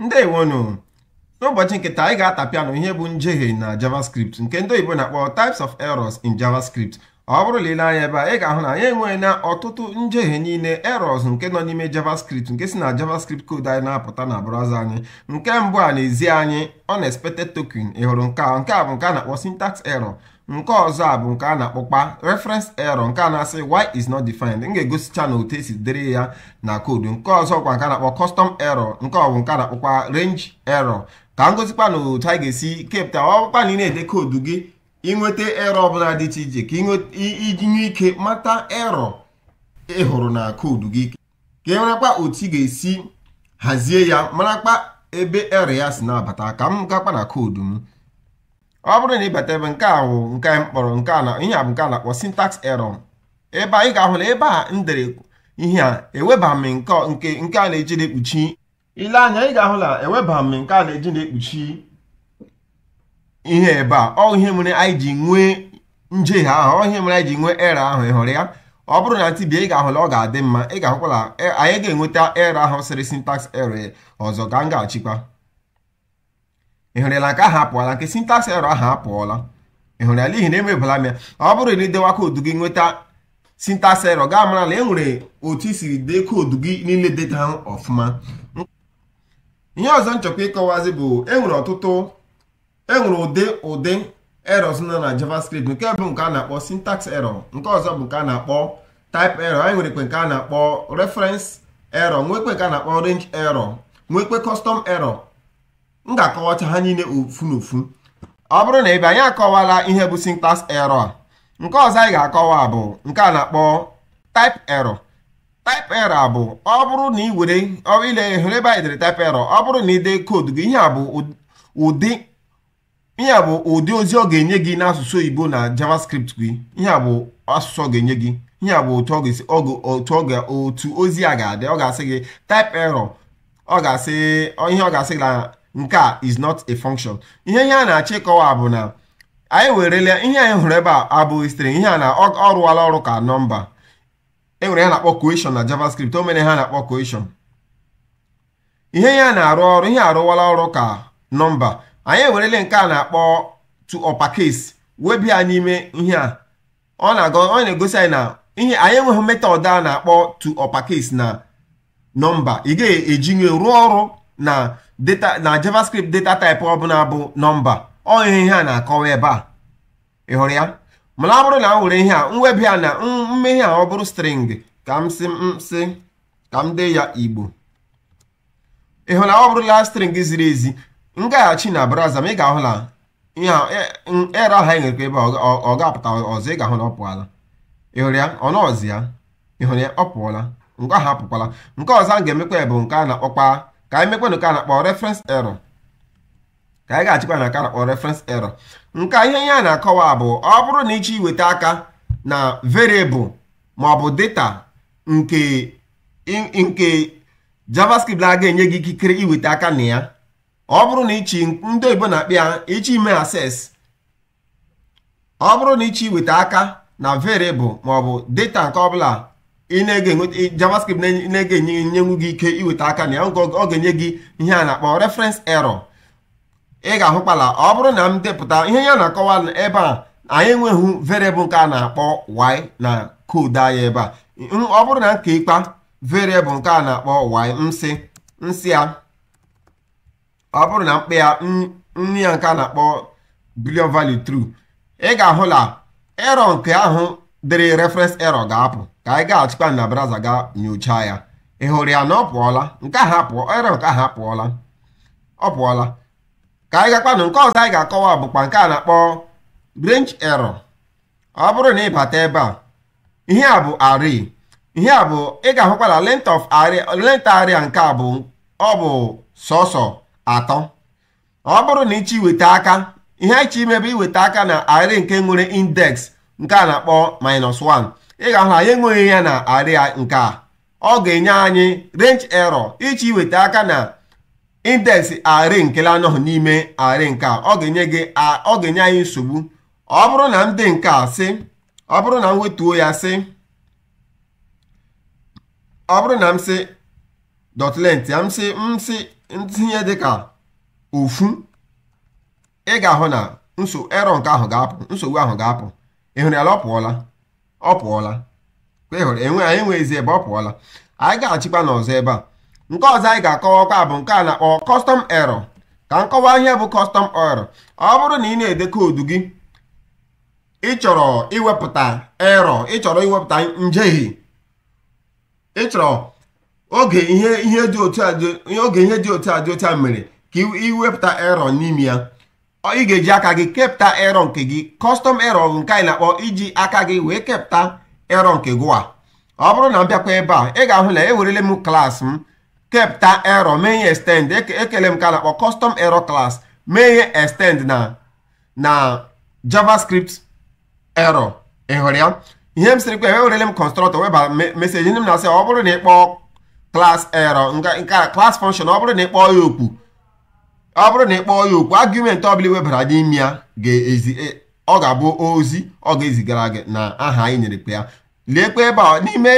ndewonu n'ụbọchị nke taa anyị ga-atapịa unu ihe bụ njehie na javascript nke ndị oyibo na-akpọ types of errors in javascript ọ bụrụ na i lee anya ebe a ị ga-ahụ na anyị enweela ọtụtụ njehie niile errors nke nọ n'ime javascript nke si na javascript code anyị na-apụta na browser anyị nke mbụ a na-ezi anyị unexpected token ị hụrụ nke a nke a bụ nke a na-akpọ syntax error nke ọzọ a bụ nke a na-akpọkpa reference error nke a na-asị y is not defined m ga-egosicha unu otu e si dịrị ya na koodu nke ọzọ kwa nke a na-akpọ custom error nke a bụ nke a na-akpọkwa range error ka m gosikwa unu otu anyị ga-esi kepụta ọ bụrụkpa na ị na-ede koodu gị ị nweta error ọbụla dị iche iche ka i ji nwee ike mata error ị hụrụ na koodu gị ka ị marakwa otu ị ga-esi hazie ya marakpa ebe error ya si na-abata ka m gakwa na koodu m ọ bụrụ na ị bata ebe nke a wụ nke anyị m kpọrọ nke a na ihe a bụ nke a na-akpọ syntax error ebe a ị ga-ahụ na ebe a m dere ihe a eweba m nke nke a na-eji na-ekpuchi i lee anya ị ga-ahụ na eweba m nke a na-eji na-ekpuchi ihe ebe a ọ ihe mere anyị ji nwee njehie ahụ ọ ihe mere anyị ji nwee error ahụ ị hụrụ ya ọ bụrụ na m tibi ya ị ga-ahụ na ọ ga-adị mma ị ga-ahụkwa na e, anyị ga-enweta error ahụ sịrị syntax error ọzọ ka m gaa chekwa ị hụrụ ya nke ahụ apụọla nke syntax error ahụ apụọla ị hụrụ ya n'ihi na emebala m ya ọ bụrụ na i dewa koodu gị nweta syntax error ga-amara na e nwere otu i siri dee koodu gị niile deta ha ọfụma ihe ọzọ m chọkwa ịkọwazi bụ e nwere ọtụtụ e nwere ụdị ụdị errors nọ na javascript nke mbụ nke a na-akpọ syntax error nke ọzọ bụ nke a na-akpọ type error anyị nwerekwe nke a na-akpọ reference error nwekwe nke a na-akpọ range error nwekwe custom error m ga-akọwacha ha niile ofu na ofu ọ bụrụ na ebe anyị akọwala ihe bụ syntax error nke ọzọ anyị ga-akọwa bụ nke a na-akpọ type error type error bụ ọ bụrụ na ị were ile hụrụ ebe anyị dere type error ọ bụrụ na ị dee koodu gị ihe a bụ ụdị ihe a bụ ụdị ozi ọ ga-enye gị n'asụsụ oyibo na javascript gị ihe a bụ asụsụ ọ ga-enye gị ihe a bụ otu otu ozi a ga-adị ọ ga-asị gị type error ọ ga-asị ihe ọ ga-asị gị na nke a is not a function ihe ihe a na-achọ ịkọwa bụ na anyị ewerele ihe anyị hụrụ ebe a abụghị string n'ihi na ọ rụwala ọrụ ka nọmba e nwere ihe a na-akpọ coercion na javascript o mere ihe a na-akpọ coercion ihe ihe a na-arụ ọrụ ihe a arụwala ọrụ ka nọmba anyị ewerele nke a na-akpọ to uppercase webi ya n'ime ihe a ọ na-egosi anyị na ihe anyị enweghị method a na-akpọ to uppercase na nọmba ị gaghị ejinwu rụọ ọrụ na data na javascript data type ọbụla bụ nọmba ọ ihe ihe a na-akọwa ebe a ị hụrụ ya mana ọ bụrụ na m were ihe a mwebi a na mmehie a ọ bụrụ string ka m si m si ka m dee ya igbo ị hụ na ọ bụrụla string ziri ezi m gaghachi na browser ma ị ga-ahụ na ihe error ahụ anyị nwere ebe ọ ga-apụta ọzọ ị ga-ahụ na ọ pụọla ị hụrụ ya ọ nọọzi ya ị hụrụ ya ọ pụọla nke ahụ apụkwala nke ọzọ anyị ga-emekwa bụ nke a na-akpọkwa ka anyị mekwanụ nke a na-akpọ reference error ka anyị gaghachikwa na nke a na-akpọ reference error nke ihe ya na-akọwa bụ ọ bụrụ na ịchọ iweta aka na variable maọbụ data nke nke javascript na-aga enye gị ikikere iweta aka na ya ọ bụrụ na ịchọ ndị oyibo na-akpọ ya ịchọ ime access ọ bụrụ na ịchọ iweta aka na variable maọbụ data nke ọbụla ị na-ege javascript na-aga enyenwu gị ike iweta aka na ya ọ ga-enye gị ihe a na-akpọ reference error ị ga-ahụkpala ọ bụrụ na m depụta ihe ya na-akọwa ebe a anyị enweghị variable nke a na-akpọ y na koodu anyị ebe a ọ bụrụ na m ka ịkpa variable nke a na-akpọ y m sị m sị ya ọ bụrụ na m kpa ya nye ya nke a na-akpọ boolean value true ị ga-ahụ na error nke ahụ dịrị reference error ga-apụ ka anyị gaghachikwa na browser ga nyocha ya ị hụrụ ya na ọ pụọla nke ahụ apụọ error nke ahụ apụọla ọ pụọla ka anyị gakwanụ nke ọzọ anyị ga-akọwa bụkwa nke a na-akpọ range error ọ bụrụ na ịbata ebe a ihe a bụ array ihe a bụ ị ga-ahụkwa na length of array length array nke a bụ ọ bụ sọsọ atọ ọ bụrụ na ịchọ iweta aka ihe anyị chọ ime bụ iweta aka na array nke nwere index nke a na-akpọ minus 1 ị ga-ahụ na anyị enweghị ya na array nke a ọ ga-enye anyị range error ịchọ iweta aka na index array nke na-anọghị n'ime array nke a ọ ga-enye anyị nsogbu ọ bụrụ na m dee nke a sị ọ bụrụ na m wetuo ya sị ọ bụrụ na m sị dot length ya m sị m sị m tinye dịka ofu ị ga-ahụ na nso error nke ahụ ga-apụ nsogbu ahụ ga-apụ ị hụrụ ya ọ pụọla ọ pụọla hụrụ enwe anyị enweghịzi ebe ọ pụọla anyị gaghachikwanụ ọzọ ebe a nke ọzọ anyị ga-akọwakwa bụ nke a na-akpọ custom error ka m kọwaa ihe bụ custom error ọ bụrụ na ị na-ede koodu gị ị chọrọ iwepụta error ị chọrọ iwepụta njehie ị chọrọ oge ihe ihe dị otu a oge ihe dị otu a dị otu a mere ka i wepụta error n'ime ya ị ga-eji aka gị kepụta error nke gị custom error bụ nke anyị na-akpọ iji aka gị wee kepụta error nke gịwa ọ bụrụ na m bịakwa ebe a ị ga-ahụ na ewerele m class m kepụta error mee ya extend ekeele m nke a na-akpọ custom error class mee ya extend na na javascript error ị hụrụ ya ihe m sịrịkwa ewe werele m constructor weba message ndị m na-asị ọ bụrụ na ị kpọọ class error nke a class function ọ bụrụ na ị kpọọ ya oku ọ bụrụ na ị kpọọ ya oku argument ọbụla ị webara n'ime ya ga-ezi e, ọ ga-abụ ozi ọ ga-ezigara gị na aha anyị nyerekwa ya leekwa ebe a n'ime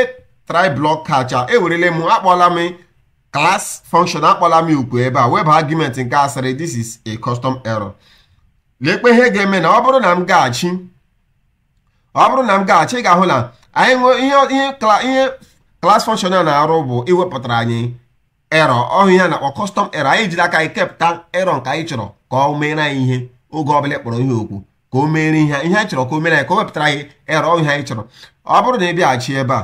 try block catch ewerele m akpọla m class function akpọla m oku ebe a weba argument nke sịrị this is a custom error lekwa ihe ga-eme na ọ bụrụ na m gaghachi ọ bụrụ na m gaghachi ị ga-ahụ na anyị nwee ihe class function a na-arụ bụ iwepụtara anyị error ọhụ ihe a na-akpọ custom error anyị jiri aka anyị kepụta error nke anyị chọrọ ka o meere anyị ihe oge ọbụla a kpọrọ ya oku ka o meere ihe ihe anyị chọrọ ka o meere anyị ka o wepụtara anyị error ọhụ ihe anyị chọrọ ọ bụrụ na ị bịaghachi ebe a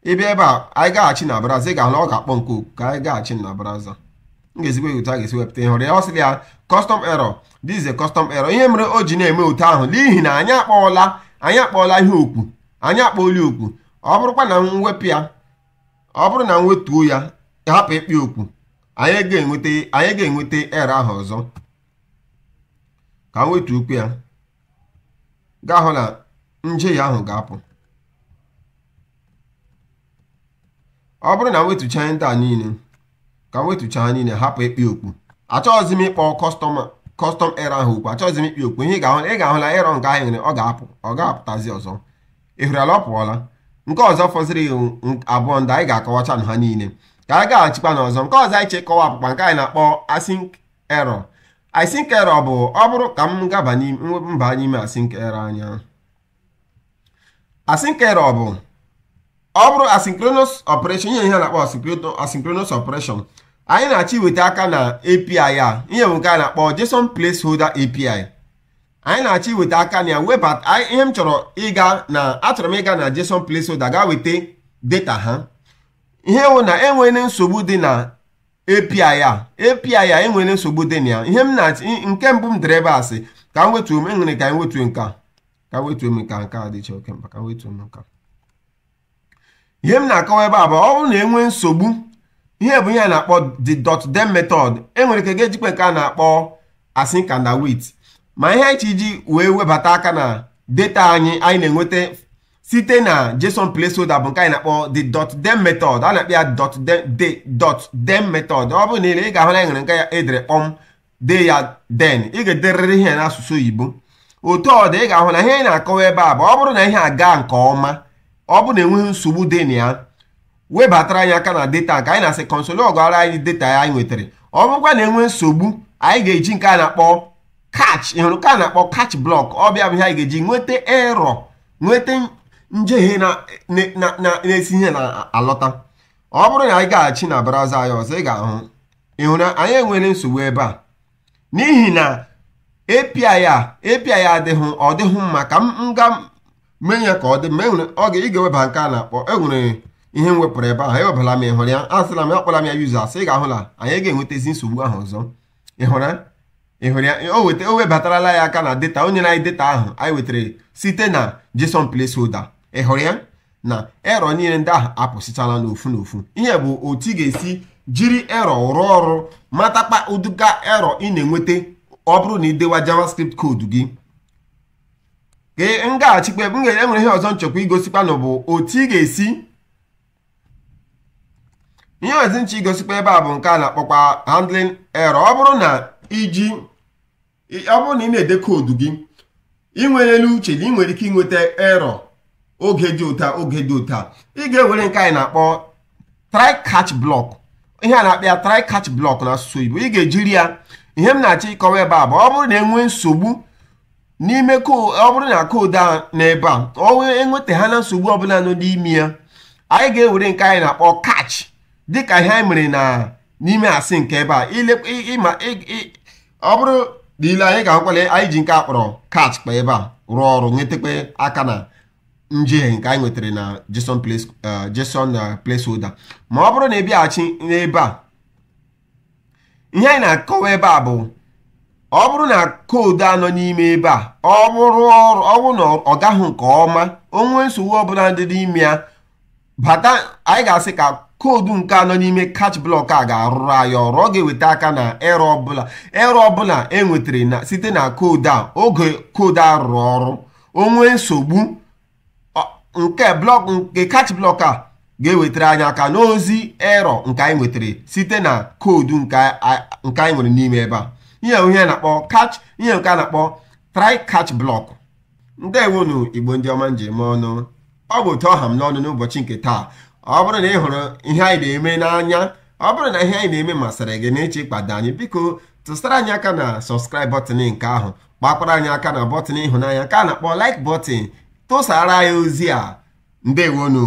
ị bịa ebe a anyị gaghachi na browser ị ga-ahụ ọ ga-akpọ nke a oku ka anyị gaghachi na browser m ga-ezi gị otu a ga-esi wepụta ị hụrụ ya ọ sịrị ya custom error this is a custom error ihe mere o ji na-eme otu ahụ n'ihi na anyị akpọọla anyị akpọọla ya oku anyị akpọọla ya oku ọ bụrụkwa na m wepụ ya ọ bụrụ na m wetuo ya hapụ ịkpọ ya oku anyị ga-enweta anyị ga-enweta error ahụ ọzọ ka m wetuokwu ya ga-ahụ na njehie ahụ ga-apụ ọ bụrụ na wetucha ndị a niile ka wetucha ha niile hapụ ịkpọ ya oku achọghịzi m ịkpọ custom error ahụ oku achọghịzi m ịkpọ ya oku ihe ị ga-ahụ ị ga-ahụ na error nke ahụ nwere ọ ga-apụ ọ ga-apụtazi ọzọ ị hụrụla ọ pụọla nke ọzọ fọziri abụọ ndị anyị ga-akọwacha na ha niile ka anyị gaghachikwa n'ọzọ nke ọzọ anyị chọ ịkọwa bụkwa nke anyị na-akpọ async error async error bụ ọ bụrụ ka m gaba mba n'ime async error anya async error bụ ọ bụrụ asynchronous operation ihe ihe a na-akpọ asynchronous operation anyị na-achọ iweta aka na API a ihe nke a na-akpọ JSON placeholder API anyị na-achọ iweta aka na ya webata ihe m chọrọ ịga na achọrọ m ịga na JSON placeholder ga weta data ha ihe wụ na enweghị nsogbu dị na API a API a enwere nsogbu dị na ya ihe m na-achị nke mbụ m dere ebe a sị ka m wetuo m enwere ka m wetuo nke a ka m wetuo nke a nke a dịchaghị oke mkpa ka m wetuo nke a ihe m na-akọwa ebe a bụ ọ bụrụ na enwee nsogbu ihe bụ ihe a na-akpọ the dot then method enwere ka a ga-ejikwa nke a na-akpọ async and await ma ihe anyị ji wee webata aka na data anyị anyị na-enweta site na json placeholder bụ nke anyị na-akpọ the dot then method a na-akpọ ya dot the dot then method ọ bụrụ na ile ị ga-ahụ na enwere nke ya edere kpọm dee ya then ị ga-ederịrị ihe n'asụsụ oyibo otu ọ dị ị ga-ahụ na ihe anyị na-akọwa ebe a bụ ọ bụrụ na ihe aga nke ọma ọ bụrụ na enweghị nsogbu dị na ya webatara anyị aka na data nke anyị na-asị console logara anyị data ya anyị nwetara ọ bụrụkwa na enwee nsogbu anyị ga-eji nke a na-akpọ catch ịhụrụ ka a na-akpọ catch block ọ bụ ya bụ ihe anyị ga-eji nweta error nweta njehie na-esi ihe na-alọta ọ bụrụ na anyị gaghachi na browser anyị ọzọ ị ga-ahụ ịhụrụ anyị enwere nsogbu ebe a n'ihi na API a API adịghị ọ dịghị mma ka m gaa mee ya ka ọ dị mma enwere ọ ga ị ga-eweba nke a na-akpọ enwere ihe m wepụrụ ebe ahụ ewebala m ịhụrụ ya asịla m akpọla m ya users ị ga-ahụ na anyị ga-enwetazi nsogbu ahụ ọzọ ịhụra ịhụrụ ya o webatarala anyị aka na data o nyena anyị data ahụ anyị wetara site na JSON placeholder ịhụrụ ya na error niile ndị ahụ apụsịchala n'ofu n'ofu ihe a bụ otu ị ga-esi jiri error rụọ ọrụ matakpa ụdịka error ị na-enweta ọ bụrụ na i dewa JavaScript koodu gị ka m gaghachikwa enwere ihe ọzọ m chọkwa igosikwa unu bụ otu ị ga-esi ihe ọzọ m chọ igosikwa ebe a bụ nke a na-akpọkwa handling error ọ bụrụ na iji ọ bụrụ na ị na-ede koodu gị i nwere n'uche na ị nwere ike inweta error oge dị otu a oge dị otu a ị ga-ewere nke anyị na-akpọ try catch block ihe a na-akpọ ya try catch block na asụsụ oyibo ị ga-ejiri ya ihe m na-achọ ịkọwa ebe a bụ ọ bụrụ na enwee nsogbu n'ime ọ bụrụ na koodu a n'ebe a o nwee enweta aka na nsogbu ọbụla nọ n'ime ya anyị ga-ewere nke anyị na-akpọ catch dịka ihe anyị mere na n'ime async ebe a ịma ọ bụrụ na ile anya ị ga-ahụkwa na anyị ji nke a kpọrọ catch kwa ebe a rụọ ọrụ nwetakwa aka na njehie nke anyị nwetara na JSON uh, uh, placeholder ma ọ bụrụ na ị bịaghachi n'ebe a ihe anyị na-akọwa ebe a bụ ọ bụrụ na koodu a nọ n'ime ebe a ọ bụrụ na ọ gaghị nke ọma o nwee nsogbu ọbụla dị n'ime ya bata anyị ga-asị ka koodu nke a nọ n'ime catch block a ga-arụrụ anyị ọrụ ọ ga-eweta aka na error ọbụla error ọbụla enwetara site na koodu a oge koodu a rụrụ ọrụ o nwee nsogbu nke block nke catch block a ga-ewetara anyị aka n'ozi error nke anyị nwetara site na koodu nke anyị nwere n'ime ebe a ihe ihe na-akpọ catch ihe nke a na-akpọ try catch block ndeewonu Igbo ndị ọma m ji eme ọnụ ọ bụ otu ọ ha m n'ọnụ n'ụbọchị nke taa ọ bụrụ na ị hụrụ ihe anyị na-eme n'anya ọ bụrụ na ihe anyị na-eme masịrị gị na ị chọọ ịkpado anyị biko tụsara anyị aka na subscribe button nke ahụ kpakwara anyị aka na bọtịn ịhụnanya ka a na-akpọ like bọtịn tụsaara anyị ozi a ndewo nụ